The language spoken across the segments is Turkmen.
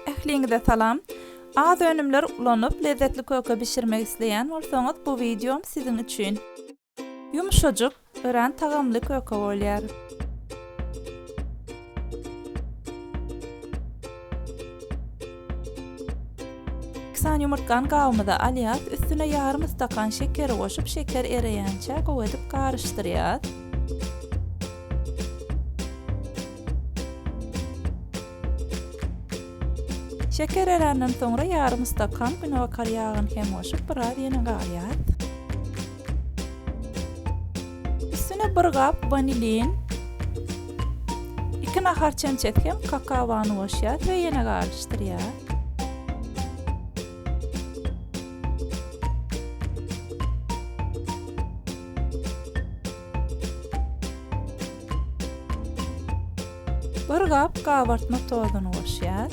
Ähliňize salam! Az önümler ulanyp lezzetli köke bişirmek isleýän bolsaňyz bu wideom siziň üçin! Ýumşajyk, örän tagamly köke bolýar. Iki sany ýumurtgany gabymyza alýas, üstüne ýarym stakan şekeri goşup şeker ereýänçä gowy edip garyşdyrýas. Şeker eränden soňra ýarym stakan günabakar ýagyny hem goşup biraz ýene galýar. Üstüne bir gap wanilin, iki nahar çemçesi hem kakawany goşýar we ýene garyşdyrýar. Bir gap gabartma tozuny goşýas.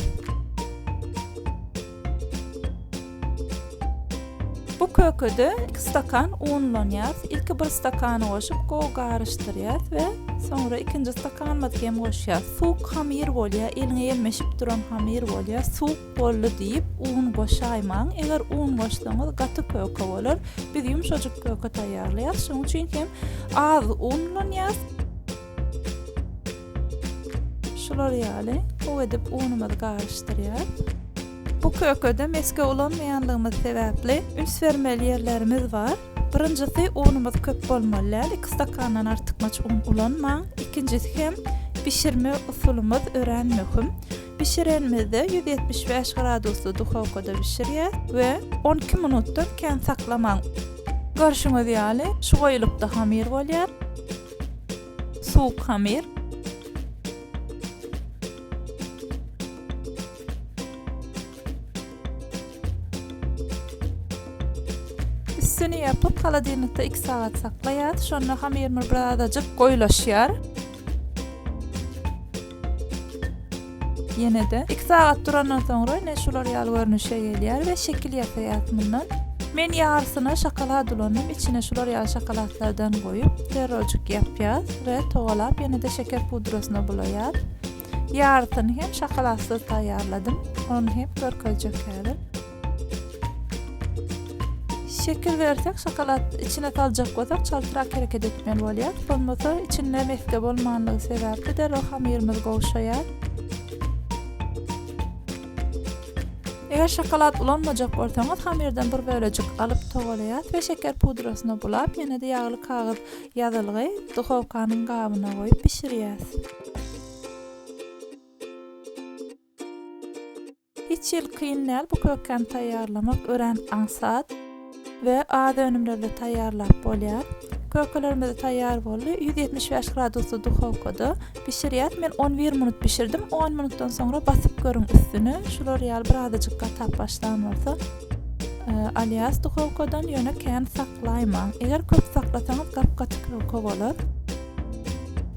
Bu kökede iki stakan unlanýas. Ilki bir stakany goşup gowy garyşdyrýas we soňra ikinji stakanymyzy hem goşýas. Suwuk hamyr bolýar, eliňe ýelmeşip duran hamyr bolýar. Suwuk Boldy diýip un goşaýmaň, eger un goşsaňyz gaty köke bolar. Biz ýumşajyk köke taýýarlaýarys, şonuň üçin hem az un ulanýarys. Şular ýaly gowy edip unumyzy garyşdyrýarys. Bu kökede mesge ulanmaýanlygymyz sebäpli üns bermeli ýerlerimiz bar. Birinjisi unumyz köp bolmaly däl iki stakandan artykmaç un ulanmaň, ikinjisi hem bişirme usulymyz örän möhüm. Bişirenimizde ýüz ýetmiş bäş gradusly duhowkada bişirýäs we on iki minutdan kän saklamaň. Görşüňiz ýaly şu goýulykda hamir bolýar. Suwuk hamir. Üstüni ýapyp, holodilnikde iki sagat saklaýas. Şonda hamyrymyz birazajyk goýulaşýar. Ýene-de iki sagat durandan soňra ine şular ýaly görnüşe gelýär we şekil ýasaýas mundan. Men ýarysyna şokolad ulandym. Içine şular ýaly şokoladlardan goýup, terrorjyk ýapýas we togalap ýene-de şeker pudrasyna bulaýas. Ýarysyny hem şokoladsyz taýýarladym. Ony hem görkezjek häzir. Şekil bersek, şokolad içine saljak bolsak, çaltrak hereket etmeli bolýar. Bolmasa, içinde mesge bolmanlygy sebäpli derrew hamyrymyz gowşaýar. Eger şokolad ulanmajak bolsaňyz, hamyrdan bir bölejik alyp togalaýas we şeker pudrasyna bulap, ýene-de ýagly kagyz ýazylgy duhowkanyň gabyna goýup bişirýäs. Hiç hili kyn däl bu kökäni taýýarlamak örän aňsat we az önümlerde taýýarlap bolýar. Kökelerimiz taýýar boldy. Ýüz ýetmiş bäş gradusly duhowkada bişirýäs. Men on bir minut bişirdim. On minutdan soňra basyp görüň üstüni. Şular ýaly birazajyk gatap başlan bolsa e, alýas duhowkadan, ýöne kän saklaýmaň. Eger köp saklasaňyz gap-gaty köke bolar.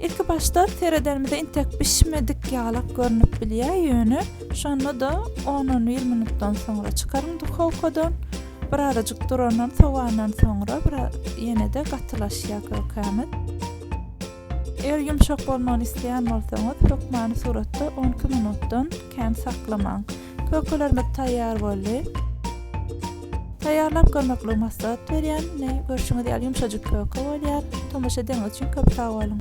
Ilki başda seredenimizde intek bişmedik ýalak görnüp bilýär, ýöne şonda-da on-on bir minutdan soňra çykaryň duhowkadan. Birazajyk durandan, sowandan soňra ýene-de gatylaşýar kökämiz. Eger ýumşak bolmagyny isleýän bolsaňyz, hökmany suratda on iki minutdan kän saklamaň. Kökelerimiz taýýar boldy. Taýýarlap görmeklik maslahat berýän. Ine, görşüňiz ýaly ýumşajyk köke bolýar. Tomaşa edeňiz üçin köp sag boluň.